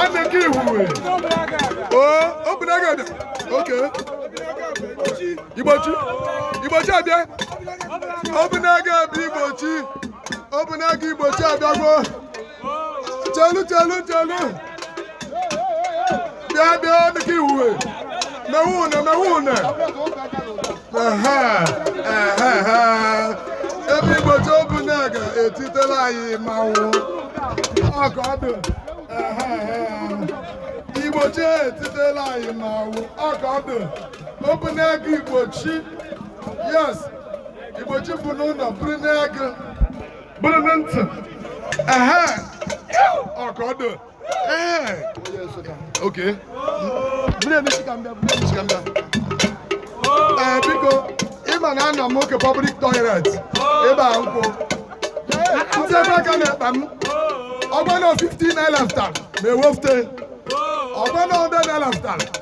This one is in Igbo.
Aneke Ihuwe. Oh, Obunagụ. Okay. Igbochi. Igbochi abịa. Obunagụ abịa Igbochi. Obunagụ Igbochi abịagwo. Chelu chelu chelu. bịa bịa dịka iwuwe mewe une mewe une ehe ehe ehe ebe igbochi obunagụ etitela anyị mmanwụ ọ ka ọ dị ehe ehe igbochi etitela anyị mmanwụ ọ ka ọ dị obunagụ igbochi yes igbochi bụ n'ụlọ bụrụ n'agụ bụrụ na ntị ehe ọ ka ọ dị Okay. Bule mi si kambia, bule mi si kambia. Eh, biko, ịma na anọ m oke public toilet. Ebe a nkwụ. Nsị ebe a ka na-ekpa m. Ọgbọ na 15 naira fụtara m ewefute. Ọgbọ na 100 naira fụtara.